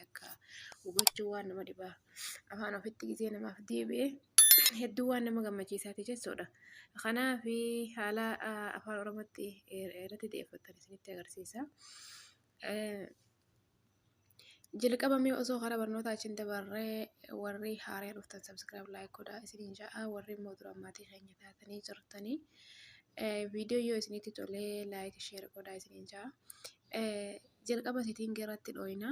takka hubachuu waan nama dhibaa afaan ofitti gisee namaaf deebi'e hedduu waan nama gammachiisaati jechuudha. Kanaaf haala afaan oromootti irratti deeffattan isinitti agarsiisa. Jalqabamee osoo karaa barnootaa achiin dabarree warri haaree dhuftan sabskiraayib laayik godhaa isiniin ja'a warri immoo duraan maatii keenya taatanii jirtanii viidiyoo yoo isinitti tolee laayik sheer godhaa isiniin ja'a. Jalqaba setting irratti dhooyna.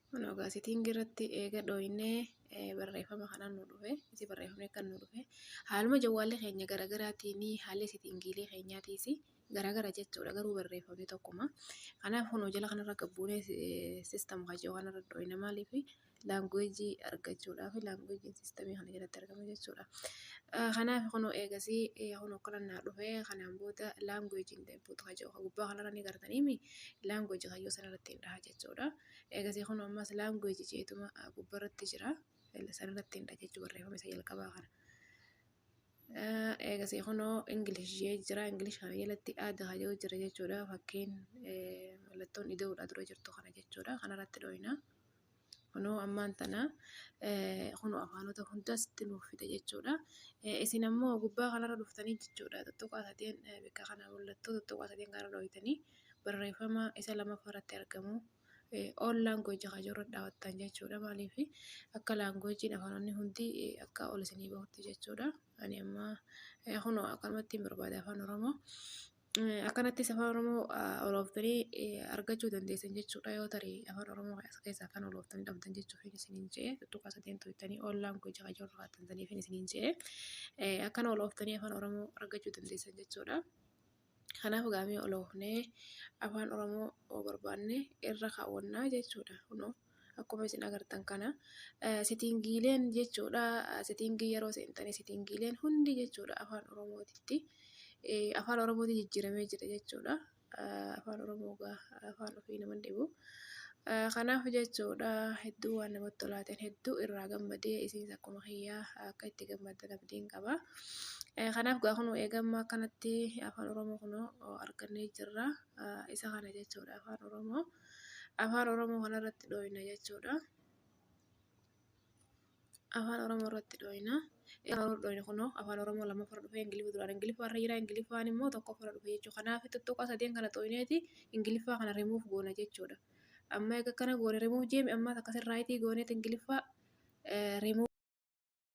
Kun egaa setting irratti eega dhooynee barreeffama kana nu dhufe isi barreeffamni akka nu dhufe haaluma jawwaallee keenya garaagaraatiin haalli settingiilee keenyaatiis garaagara jechuudha garuu barreeffamni tokkuma. Kanaaf kunoo jala kanarra gad buunee system kan jedhu kanarra dhooyna maaliifi? laanguweejii argachuudhaaf laanguweejiin siistamii kana jalatti argama jechuudha. Kanaaf kunoo eegasii kunoo kadhannaa dhufee kanaan booda laanguweejiin deebi'uutu haa jiru. Gubbaa kanarra ni gartaniimi laanguweejii kayyoo sanarratti hin dhaha jechuudha. Eegasii kunoo ammas laanguweejii jeetuma gubbarratti jira. Sanarratti hin dhaha jechuudha barreeffama isa jalqabaa kana. Eegasii kunoo Ingilish jee jira. Ingilish kana jalatti aada haa jiru jira jechuudha. Fakkiin mallattoon idoodhaa dura jirtu kana jechuudha. Kanarratti dhooyina. Kunoo ammaan tana kunoo afaanota hundas nuuf fide jechuudha. Isin ammoo gubbaa kanarra dhuftanii jechuudha. Tuttuqaa sadeen bakka kana mul'attu tuttuqaa sadeen kana dhooytanii barreeffama isa lamaffaa irratti argamu. All language kan jirurra dhaawattan jechuudha. Maaliif akka language afaanonni hundi akka ol isinii bahutti jechuudha. Ani amma kunoo akkanumatti barbaada afaan Oromoo. Akkanattis afaan Oromoo olooftanii argachuu dandeessan jechuudha yoo tare afaan Oromoo as keessaa kan olooftanii dhabdan jechuuf hin isiniin je'e tuttuqaa sadeen tuuttanii ollaan koo jaha jirru haatantaniif hin isiniin je'e akkana olooftanii afaan Oromoo argachuu dandeessan jechuudha. Kanaaf gaamee oloofnee afaan Oromoo barbaanne irra kaawwannaa jechuudha kunoo. akkuma isin agartan kana sitiingiileen jechuudha sitiingii yeroo seentanii sitiingiileen hundi jechuudha afaan oromootitti afaan oromootti jijjiiramee jira jechuudha afaan oromoo afaan ofii nama dhibu kanaaf jechuudha hedduu waan namatti tolaateen hedduu irraa gammadee isinis akkuma kiyyaa akka itti gammaddan abdiin qaba kanaaf gaa kunuu eegammaa akkanatti afaan oromoo kunoo argannee jirra isa kana jechuudha afaan oromoo. afaan Oromoo kana irratti dhooyna jechuudha. Afaan Oromoo irratti dhooyna. Dhooyna kunoo afaan Oromoo lammaffaa irra dhufee Ingiliffa duraan Ingiliffa irra jira Ingiliffaan immoo tokkoffaa irra dhufee jechuudha. Kanaaf tuttuqaa sadeen kana dhooyneeti Ingiliffaa kana rimuuf goona jechuudha. Amma egaa kana goone rimuuf jeemi ammaas akkasirraa itii gooneeti Ingiliffaa rimuuf.